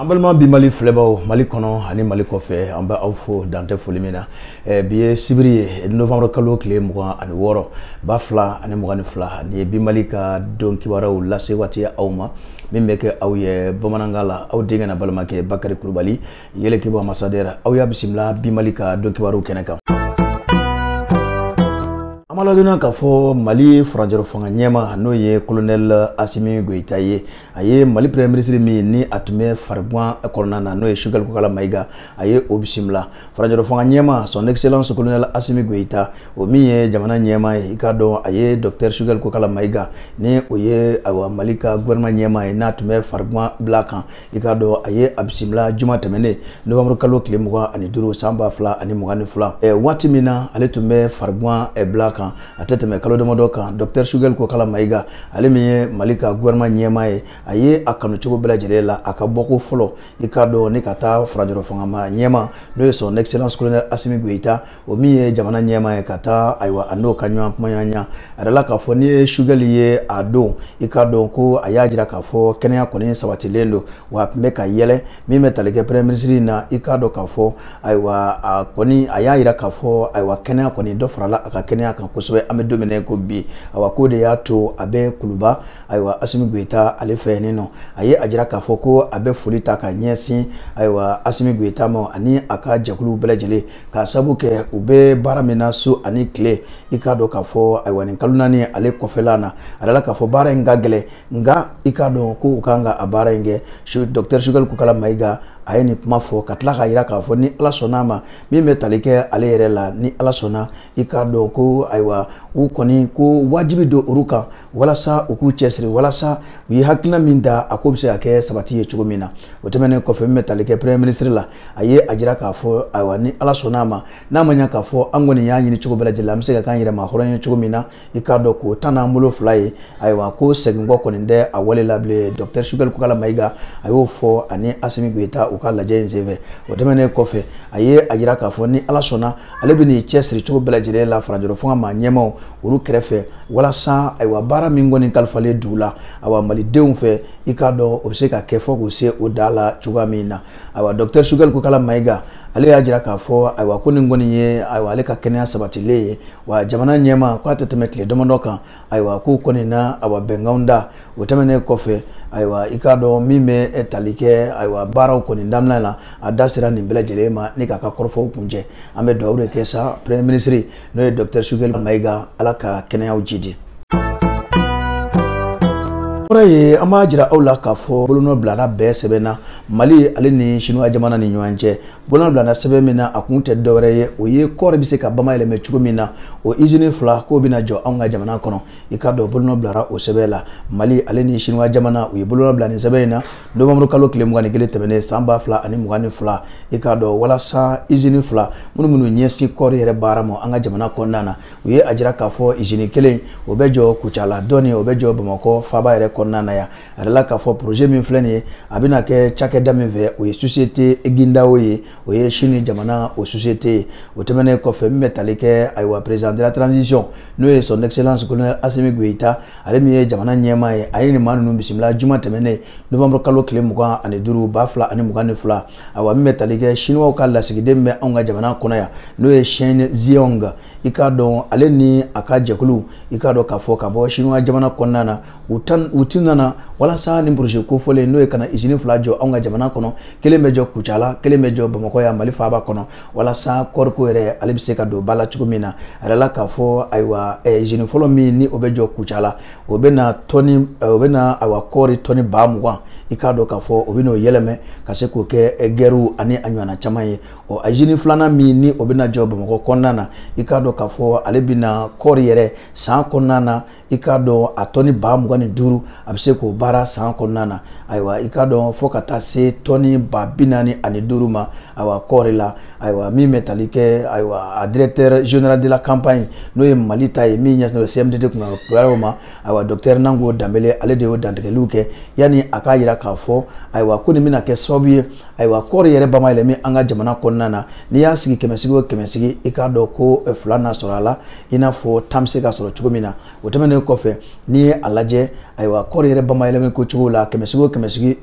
an balima bi mali filɛbaw mali kɔnɔ ani mali kɔfɛ an bɛ aw fo dan tɛ foli min na eh, bi ye sibiri ye novembre kalo kile mugan ani wɔɔrɔ ba fila ani mugan ni fila nin ye bi mali ka don kibaruw lase waati aw ma min bɛ kɛ aw ye bamanankan la aw denkɛ n'aw balimakɛ bakari kulubali yɛlɛkɛbugu ambassadeur aw y'a bisimila bi mali ka don kibaruw kɛnɛ kan an b'a ladɔnniya k'a fɔ mali furancɛrɔ fanga ɲɛma n'o ye kolonɛl asimi goyita ye a ye mali premier ministre min ni a tun bɛ fariguan kɔnɔna na n'o ye sugɛli kokala mayiga a ye o bisimila furancɛrɔ fanga ɲɛma son excellence kolonɛl asimi goyita o min ye jamana ɲɛma ye i k'a dɔn a ye dɔktɛr sugɛli kokala mayiga ni o ye awa mali ka gouvernement ɲɛma ye n'a tun bɛ fariguan bila kan i k'a dɔn a ye a bisimila juma tɛmɛnen novembre kalo kile mugan ani duuru san ba fila ani mugan ni fila eh, waati min na ale tun bɛ fariguan eh, bila kan a tɛ tɛmɛ kalo damadɔ kan dɔktɛr sugɛli kokala mayiga ale min ye mali ka gouvernement ɲɛma ye a ye a kanu cogo bɛɛ lajɛlen la a ka bɔko fɔlɔ i k'a dɔn ni ka taa furancɛrɔ fanga maa ɲɛma n'o ye son excellence colonel asimi goyita o min ye jamana ɲɛma ye ka taa ayiwa a n'o ka ɲɔgɔn kumaɲɔgɔnya a dala k'a fɔ n'i ye sugɛli ye a don i k'a dɔn ko a y'a jira k'a fɔ kɛnɛya kɔni sabatilen don wa a tun bɛ ka yɛlɛ min bɛ tali kɛ premier ministre in na i k'a dɔn k'a fɔ ayiwa a kɔni a y'a jira k'a fɔ ayiwa kɛnɛya kɔni dɔ farala a ka kɛnɛya kan kosɛbɛ an bɛ don min na ko bi ayiwa k'o de y'a to a bɛ kuluba ayiwa asimi goyita ale fɛ yen nɔ a ye a jira k'a fɔ ko a bɛ foli ta ka ɲɛsin ayiwa asimi goyita ma ani a ka jɛkuluw bɛɛ lajɛlen K'a sabu kɛ u bɛ baara min na su ani kile i k'a dɔn k'a fɔ ayiwa nin kalo naani ale kɔfɛla na a dala k'a fɔ baara in ka gɛlɛn nka i k'a dɔn ko u kan ka a baara in kɛ dɔktɛr sugɛli kokala mayiga a ye nin kuma fɔ ka tila k'a jira k'a fɔ ni ala sɔnna a ma min bɛ tali kɛ ale yɛrɛ la ni ala sɔnna i k'a dɔn ko ayiwa u kɔni ko wajibi don olu kan walasa u k'u cɛsiri walasa u ye hakilina min ta a ko bɛ se ka kɛ sabati ye cogo min na o tɛmɛnen kɔfɛ min bɛ tali kɛ premier ministre la a ye a jira k'a fɔ ayiwa ni ala sɔnna a ma n'a ma ɲa k'a fɔ an kɔni y'a ɲini cogo bɛɛ lajɛlen an bɛ se ka k'an yɛrɛ ma hɔrɔn ye cogo min na i k'a dɔn k'o ta n'an bolo fila ye ayiwa ko seginkɔ kɔni tɛ a wale la bilen docteur sugɛli kokala mayiga a y'o fɔ ani asimi goyita u ka lajɛ in senfɛ o tɛmɛnen kɔfɛ a ye a jira k'a fɔ ni ala sɔnna ale bɛn'i cɛsiri cogo bɛɛ lajɛlen la furancɛrɔ fanga maa ɲɛmaw olu kɛrɛfɛ walasa ayiwa baara min kɔni kalifalen don u la ayiwa malidenw fɛ i k'a dɔn o bɛ se ka kɛ fo k'o se o dan la cogoya min na ayiwa dɔktɛr sugɛli kokala mayiga ale y'a jira k'a fɔ ayiwa ko nin kɔni ye ayiwa ale ka kɛnɛya sabatilen ye wa jamana ɲɛma ko a tɛ tɛmɛ tile damadɔ kan ayiwa k'u kɔni na awa bɛnkanw da o tɛmɛnen kɔfɛ ayiwa i k'a dɔn min bɛ tali kɛ ayiwa baaraw kɔni daminɛ na a da sera nin bɛɛ lajɛlen ma ni k'a ka kɔrɔfɔw kuncɛ an bɛ dugawu de kɛ sa premier ministre n'o ye docteur sogɛli mayiga ala ka kɛnɛyaw jidi kɔrɔ ye an b'a jira aw la k'a fɔ bolonɔ bilara bɛn sɛbɛn na mali ale ni sinuwa jamana ni ɲɔgɔn cɛ bolonɔ bilana sɛbɛn min na a kun tɛ dɔ wɛrɛ ye o ye kɔɔri bɛ se ka bamayɛlɛmɛ cogo min na o izini fila k'o bɛna jɔ anw ka jamana kɔnɔ i k'a dɔn bolonɔ bilara o sɛbɛn la mali ale ni siniwa jamana u ye bolonɔ bila nin sɛbɛn in na nowanburu kalo tile mugan ni kelen tɛmɛnen san ba fila ani mugan ni fila i k'a dɔn walasa izini fila minnu minnu ɲɛsin kɔɔri yɛrɛ baara ma an ka jamana kɔnɔna na u ye a jira k'a fɔ izini kelen o bɛ jɔ kucala dɔ nin o bɛ jɔ bamakɔ faaba yɛrɛ kɔnɔna na yan a yirala k'a fɔ projet min filɛ nin ye a bɛna kɛ cakɛda min fɛ o ye société qingdao ye o ye sini jamana o société ye o tɛmɛnen kɔfɛ min bɛ tali kɛ ayiwa président de la transition n'o ye son excellence colonel asimi goyita ale min ye jamana ɲɛmaa ye a ye nin maa ninnu bisimila juma tɛmɛnen novembre kalo tile mugan ani duuru ba fila ani mugan ni fila ayiwa min bɛ tali kɛ chinois ka lasigiden bɛ anw ka jamana kɔnɔ yan n'o ye chen zhihong i k'a dɔn ale ni a ka jɛkulu i k'a dɔn k'a fɔ ka bɔ chinois jamana kɔnɔna na u tun nana walasa nin projet kofɔlen n'o ye ka na izini fila jɔ anw ka jamana kɔnɔ kelen bɛ jɔ kucala kelen bɛ jɔ bamakɔ yan mali faaba kɔnɔ walasa kɔɔriko yɛrɛ ale bɛ se ka don ba la cogo min na a yirala k'a fɔ ayiwa izini eh, fɔlɔ min ni o bɛ jɔ kucala o bɛ na tɔni eh, o bɛ na ayiwa kɔɔri tɔni ba mugan i k'a dɔn k'a fɔ o bɛ n'o yɛlɛmɛ ka se k'o kɛ eh, gaariw ani a ɲɔgɔnna caman ye ɔ izini filanan min ni o bɛ na jɔ bamakɔ kɔnɔna na i k'a dɔn k'a fɔ ale bɛ na kɔɔri yɛrɛ san kɔnɔna na i k'a dɔn a tɔni ba mugan ni duuru a bɛ se k'o baara san kɔnɔna na ayiwa i k'a dɔn fo ka taa se tɔni ba bi naani ani duuru ma ayiwa kɔɔri la ayiwa min bɛ tali kɛ ayiwa a directeur général de la compagnie n'o ye mali ta ye min ɲɛsinnen don CMDT kunkanko ma ayiwa docteur Nango Danbele ale de y'o dantigɛliw kɛ yanni a k'a jira k'a fɔ ayiwa ko nin bɛna kɛ sababu ye ayiwa kɔɔri yɛrɛ bamayɛlɛmi an ka jamana kɔnɔna na n'i y'a sigi kɛmɛsigi o kɛmɛsigi i k'a dɔn ko fila na sɔrɔ a la i n'a fɔ tan bɛ se ka sɔrɔ cogo min na o tɛmɛnen kɔfɛ n'i ye a lajɛ ayiwa kɔɔri yɛrɛ bamayɛlɛmani ko cogo la kɛmɛsigi o kɛmɛsigi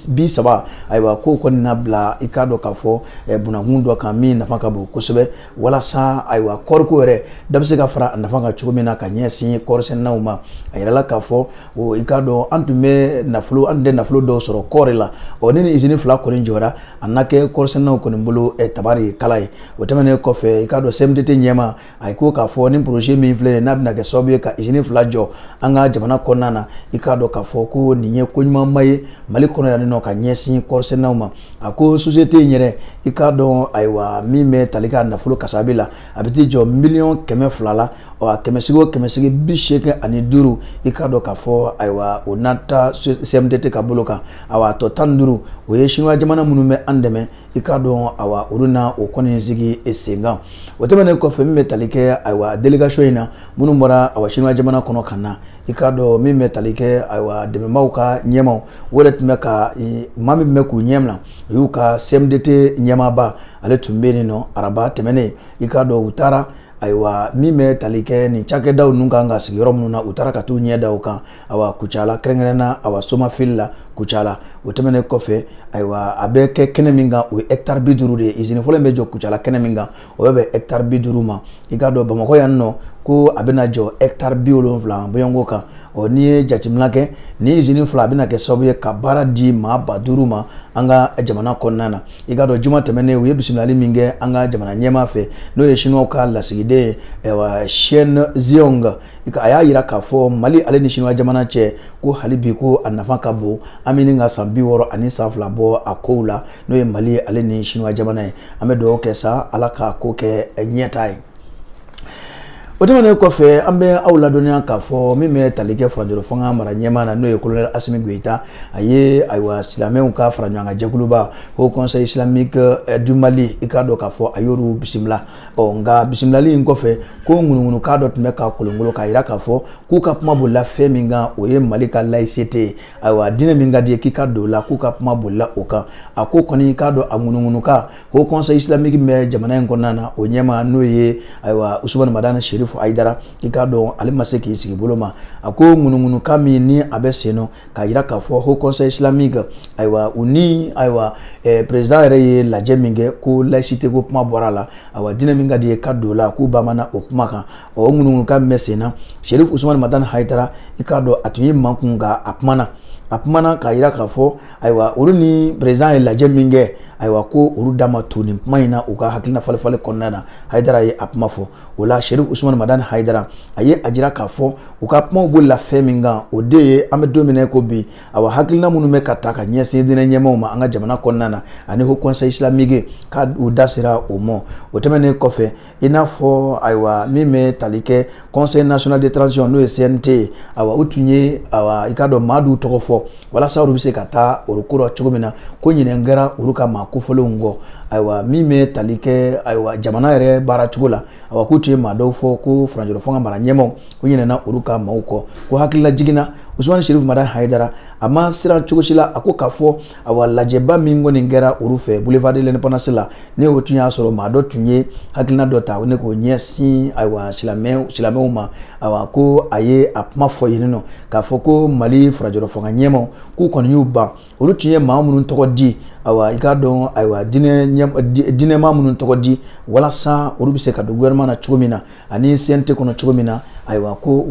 bi saba ayiwa k'o kɔni na bila i k'a dɔn k'a fɔ eh, bunankun dɔ kan min nafa ka bon kosɛbɛ walasa ayiwa kɔɔriko yɛrɛ da bɛ se ka fara a nafa kan cogo min na ka ɲɛsin kɔɔrisɛnɛnaw ma a yirala k'a fɔ o i k'a dɔn an tun bɛ nafolo an tun tɛ nafolo dɔw sɔrɔ kɔɔri la ɔ ni nin izini fila kɔni jɔra a na kɛ kɔɔrisɛnɛnaw kɔni bolo eh, tabarikala ye o tɛmɛnen kɔfɛ i k'a dɔn CMDT ɲɛmaa a ye ko k'a fɔ nin projet min filɛ n'a bɛna kɛ sababu ye ka usine fila jɔ an ka jamana kɔnɔna na i k'a dɔn k'a fɔ ko nin ye ko ɲumanba ye mali kɔnɔ yan nɔ ka ɲɛsin kɔɔrisɛnɛnaw ma a ko société in yɛrɛ i k'a dɔn ayiwa min bɛ tali k'a nafolo kasabi la a bɛ t'i jɔ miliyɔn kɛmɛ fila la ɔ a kɛmɛsigi o kɛmɛsigi bi seegin ani duuru i k'a dɔn k'a fɔ ayiwa o na ta CMDT ka bolo kan awa a tɔ tan ni duuru o ye sinuwa jamana minnu bɛ an dɛmɛ i k'a dɔn awa olu na o kɔni sigi sen kan o tɛmɛnen kɔfɛ min bɛ tali kɛ ayiwa délégation in na minnu bɔra awa sinuwa jamana kɔnɔ ka na i k'a dɔn min bɛ tali kɛ ayiwa dɛmɛbaaw ka ɲɛmaaw o yɛrɛ tun bɛ ka maa min bɛ k'u ɲɛminɛ o y'u ka cmdt ɲɛmaaba ale tun bɛ yen nɔ araba tɛmɛnen i k'a dɔn u taara ayiwa min bɛ tali kɛ nin cakɛdaw ninnu kan ka sigi yɔrɔ minnu na u taara ka t'u ɲɛ da o kan awa kucala kɛrɛnkɛrɛnna awa somafili la kucala o tɛmɛnen kɔfɛ ayiwa a bɛ kɛ kɛnɛ min kan o ye hɛkitari bi duuru de ye izini fɔlɔ in bɛ jɔ kucala kɛnɛ min kan o bɛ bɛn hɛkitari bi duuru ma i k'a dɔn bamakɔ yan nɔ ko a bɛna jɔ hɛkitari bi wolonwula bɔɲɔgɔnko kan ɔ n'i ye jateminɛ kɛ nin izini fila a bɛna kɛ sababu ye ka baara di maa ba duuru ma an ka jamana kɔnɔna na i k'a dɔn juma tɛmɛnen u ye bisimilali min kɛ an ka jamana ɲɛmaa fɛ n'o ye siniwaw ka lasigiden ye chen zhihong a y'a jira k'a fɔ mali ale ni siniwa jamana cɛ ko hali bi ko a nafa ka bon an bɛ ɲini ka san bi wɔɔrɔ ani san fila bɔ a kow la n'o ye mali ale ni siniwa jamana ye an bɛ dugawu kɛ sa ala k'a ko kɛ ɲɛtaa ye o tɛmɛnen kɔfɛ an bɛ aw ladɔnniya k'a fɔ min bɛ tali kɛ furancɛrɔ fanga mara ɲɛmaa na n'o ye kolonɛli asimi goyita a ye ayiwa silamɛw ka faraɲɔgɔnkan jɛkuluba haut conseil islamique du mali i k'a dɔn k'a fɔ a y'olu bisimila ɔ nka bisimilali in kɔfɛ ko ŋunuŋunukan dɔ tun bɛ ka kolonkolon k'a jira k'a fɔ k'u ka kuma bolila fɛn min kan o ye mali ka laïcité ye ayiwa diinɛ min ka d'i ye k'i ka don o la k'u ka kuma bolila o kan a ko kɔni i k'a dɔn a ŋunuŋunukan haut conseil islamique min bɛ jamana in kɔnɔna na o ɲɛmaa n'o ye ayiwa usumani madani serifu hayidara i k'a dɔn ale ma se k'i sigi bolo ma a ko ŋunuŋunukan min ni a bɛ sen nɔ k'a jira k'a fɔ haut conseil islamique ayiwa u ni ayiwa eh, président yɛrɛ ye lajɛ min kɛ ko laïcité ko kuma bɔra a la ayiwa diinɛ min ka d'i ye ka don o la k'u ba mana o kuma kan ɔ o ŋunuŋunukan min bɛ sen na sherif usumani madani hayidara i k'a dɔn a tun y'i makun nka a kumana a kumana k'a jira k'a fɔ ayiwa olu ni président ye lajɛ min kɛ ayiwa ko olu da ma don nin kuma in na u ka hakilina falenfalen kɔnɔna na hayidara ye a kuma fɔ o la sherif usumani madani hayidara a ye a jira k'a fɔ u ka kumaw bolila fɛn min kan o de ye an bɛ don min na ko bi awa hakilina minnu bɛ ka ta ka ɲɛsin diinɛ ɲɛmaaw ma an ka jamana kɔnɔna na ani haut conseil islamique ko u da sera o ma o tɛmɛnen kɔfɛ i n'a fɔ ayiwa min bɛ tali kɛ conseil national de transition n'o ye cnt ye awa u tun ye awa i k'a dɔn maa dɔw tɔgɔ fɔ walasa olu bɛ se ka taa o ko la cogo min na ko ɲinɛn kɛra olu ka maa kofɔlenw kɔ ayiwa min bɛ tali kɛ ayiwa jamana yɛrɛ baara cogo la ayiwa k'u tun ye maa dɔw fɔ ko faranjɔrɔ fanga mara ɲɛmaaw k'u ɲinɛna olu ka maaw kɔ ko hakililajigin na usumani sherif madani haidara a ma siran cogo si la a ko k'a fɔ ayiwa lajɛba min kɔni kɛra olu fɛ boulevard de l'indépendance la ne o tun y'a sɔrɔ maa dɔ tun ye hakilina dɔ ta ne k'o ɲɛsin ayiwa silamɛw silamɛw ma awa ko a ye a kuma fɔ yen nɔ k'a fɔ ko mali farajɔrɔ fanga ɲɛmaaw k'u kɔni y'u ban olu tun ye maa minnu tɔgɔ di awa i k'a dɔn ayiwa diinɛmaa minnu tɔgɔ di walasa olu bɛ se ka don gouvernement na cogo min na ani cnt kɔnɔ cogo min na ayiwa ko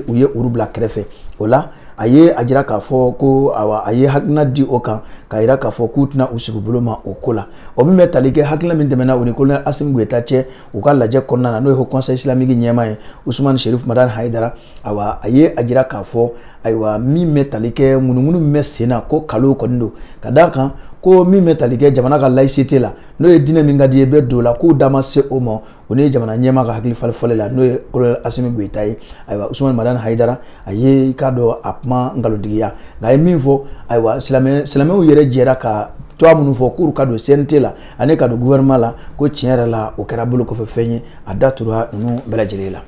u ye olu bila kɛrɛfɛ o la a ye a jira k'a fɔ ko awa a ye hakilina di o kan k'a jira k'a fɔ k'u tɛna u sigi bolo ma o ko la o min bɛ tali kɛ hakilina min tɛmɛna u ni kolonɛli asimi goyita cɛ u ka lajɛ kɔnɔna na n'o ye haut conseil islamique ɲɛmaa ye usumani sherif madani haidara awa a ye a jira k'a fɔ ayiwa min bɛ tali kɛ ŋunuŋunu min bɛ sen na ko nkalon kɔni don ka d'a kan ko min bɛ tali kɛ jamana ka laïcité la n'o ye diinɛ min ka di i ye i bɛ don o la k'u da ma se o ma u ni jamana ɲɛmaa ka hakili falenfalen la n'o ye kolonɛli asimi goyita ye ayiwa usumani madani haidara a ye i k'a dɔn a kuma nkalontigiya nka a ye min fɔ ayiwa silamɛw yɛrɛ jɛra ka tɔgɔ minnu fɔ k'olu ka don cnt la ani ka don gouvernement la ko tiɲɛ yɛrɛ la o kɛra bolokɔfɛfɛn ye a da tura ninnu bɛɛ lajɛlen la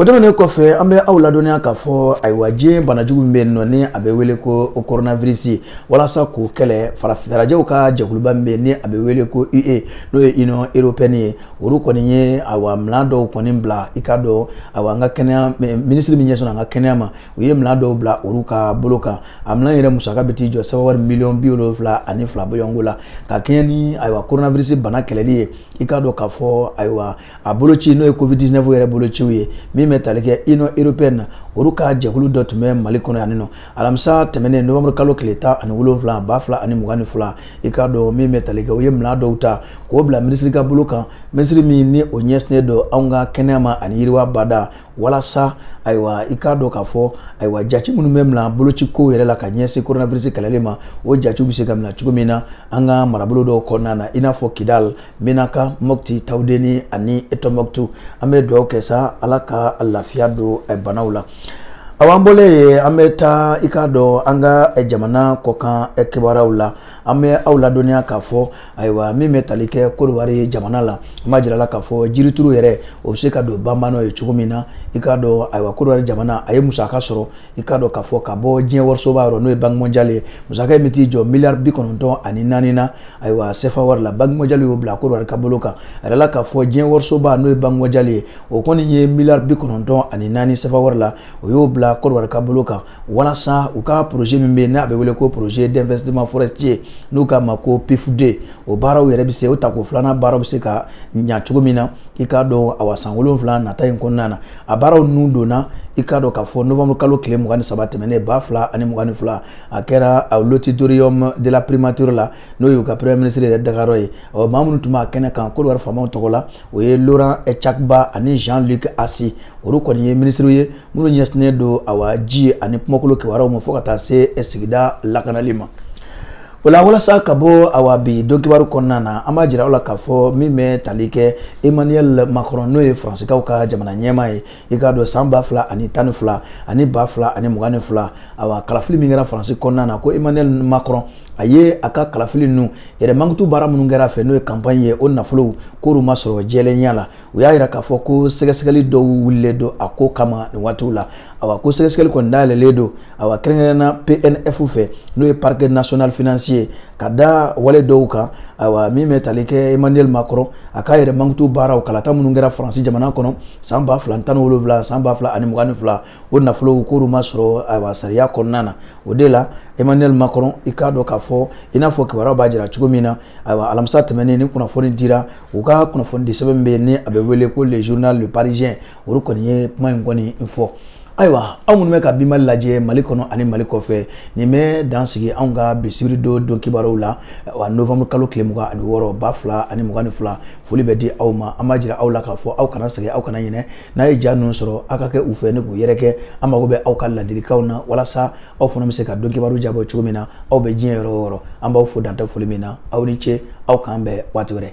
o tɛmɛnen kɔfɛ an bɛ aw ladɔnniya k'a fɔ ayiwa diɲɛ banajugu min bɛ yen nɔ ni a bɛ wele ko coronavirus walasa k'o kɛlɛ fara farajɛw ka jɛkuluba min bɛ yen ni a bɛ wele ko UE n'o ye Union européenne ye olu kɔni ye ayiwa minɛn dɔw kɔni bila i k'a dɔn ayiwa an ka kɛnɛya minisiri min ɲɛsin an ka kɛnɛya ma u ye minɛn dɔw bila olu ka bolo kan a minɛn yɛrɛ musaka bɛ t'i jɔ sefa wari miliyɔn bi wolonwula ani fila bɔɲɔgɔnko la ka kɛɲɛ ni ayiwa koronavirisi bana kɛlɛli ye i k'a dɔn k'a fɔ ayiwa a boloci n'o ye covid 19 yɛrɛ bolociw ye min bɛ tali kɛ union européenne na olu ka jɛkulu dɔ tun bɛ mali kɔnɔ yanni nɔ alamisa tɛmɛnen novembre kalo tile tan ani wolonwula ba fila ani mugan ni fila i k'a dɔn min bɛ tali kɛ u ye minɛn dɔw ta k'o bila minisiri ka bolo kan minisiri min ni o ɲɛsinnen don anw ka kɛnɛya ma ani yiriwa bada walasa ayiwa i k'a dɔn k'a fɔ ayiwa jati minnu bɛ mina boloci kow yɛrɛ la ka ɲɛsin coronavirus kɛlɛli ma o jatiw bɛ se ka mina cogo min na an ka marabolo dɔw kɔnɔna na i n'a fɔ kidal menaka mopti tawudeni ani eh, tombouctou an bɛ dugawu kɛ sa ala ka lafiya don eh, banaw la awa an bɔlen yen an bɛ taa i k'a dɔn an ka eh, jamana kɔkan eh, kibaruyaw la an bɛ aw ladɔnniya k'a fɔ ayiwa min bɛ tali kɛ kodiwari jamana la an b'a jira aw la k'a fɔ jirituru yɛrɛ o bɛ se ka don banbanɔ ye cogo min na i k'a dɔn ayiwa kodiwari jamana a ye musaka sɔrɔ i k'a dɔn k'a fɔ ka bɔ diɲɛ warisoba yɔrɔ n'o ye banki mɔnjali ye musaka in bɛ t'i jɔ miliyari bi kɔnɔntɔn ani naani na ayiwa sefa wari la banki mɔnjali y'o bila kodiwari ka bolo kan a yirala k'a fɔ diɲɛ warisoba n'o ye banki mɔnjali ye o kɔni ye miliyari bi kɔnɔntɔn ani naani sefa wari la o y'o bila Kodowari ka bolo kan walasa u ka projet min bɛ yen n'a bɛ wele ko projet d'investissement forestier n'u k'a ma ko PIFD o baaraw yɛrɛ bɛ se o tako filanan baaraw bɛ se ka ɲa cogo min na i k'a dɔn awa san wolonwula nata in kɔnɔna na a baaraw ninnu donna i k'a dɔn k'a fɔ novembre kalo tile mugan ni saba tɛmɛnen ba fila ani mugan ni fila a kɛra l'auditorium de la primature la n'o y'u ka premier ministre yɛrɛ dagayɔrɔ ye ɔ maa minnu tun b'a kɛnɛ kan Kodowari faamaw tɔgɔ la o ye Laurent Tchagba ani Jean-Luc Assi olu kɔni ye minisiriw ye minnu ɲɛsinnen don awa ji ani kungokolo kibaruyaw ma fo ka taa se sigida lakanali ma o la walasa ka bɔ awa bi don kibaru kɔnɔna na an b'a jira aw la k'a fɔ min bɛ tali kɛ Emmanuel Macron n'o ye faransikanw ka jamana ɲɛmaa ye i k'a dɔn san ba fila ani tan ni fila ani ba fila ani mugan ni fila awa kalafili min kɛra faransi kɔnɔna na ko emmanuel macron a ye a ka kalafili ninnu yɛrɛ mankutu baara minnu kɛra a fɛ n'o ye kanpaɲi ye o nafolow k'olu ma sɔrɔ jɛlenya la u y'a yira k'a fɔ ko sɛgɛsɛgɛli dɔw wulilen don a ko kama nin waatiw la awa ko sɛgɛsɛgɛli kɔni dayɛlɛlen don awa kɛrɛnkɛrɛnna PNF fɛ n'o ye parquet national financier ka da wale dɔw kan awa min bɛ tali kɛ emmanuel macron a k'a yɛrɛ mankutu baaraw kalata minnu kɛra faransi jamana kɔnɔ san ba fila tan ni wolonwula san ba fila ani mugan ni fila o nafolow k'olu ma sɔrɔ awa sariya kɔnɔna na o de la emmanuel macron i k'a dɔn k'a fɔ i n'a fɔ kibaruyaw b'a jira cogo min na ayiwa alamisa tɛmɛnen nin kunnafoni dira u ka kunnafonidi sɛbɛn min bɛ yen ni a bɛ wele ko le journal le parisien olu kɔni ye kuma in kɔni fɔ ayiwa aw minnu bɛ ka bi mali lajɛ mali kɔnɔ ani mali kɔfɛ nin bɛ dan sigi anw ka bi sibiri don don kibaruw la wa novembre kalo tile mugan ani wɔɔrɔ ba fila ani mugan ni fila foli bɛ di aw ma an b'a jira aw la k'a fɔ aw kana sɛgɛn aw kana ɲinɛ n'aw ye ja ninnu sɔrɔ aw ka kɛ u fɛ ni k'u yɛrɛkɛ an mago bɛ aw ka ladilikanw na walasa anw fana bɛ se ka don kibaru jabɔ cogo min na aw bɛ diɲɛ yɔrɔ o yɔrɔ an b'aw fo dan tɛ foli min na aw ni ce aw k'an bɛn waati wɛrɛ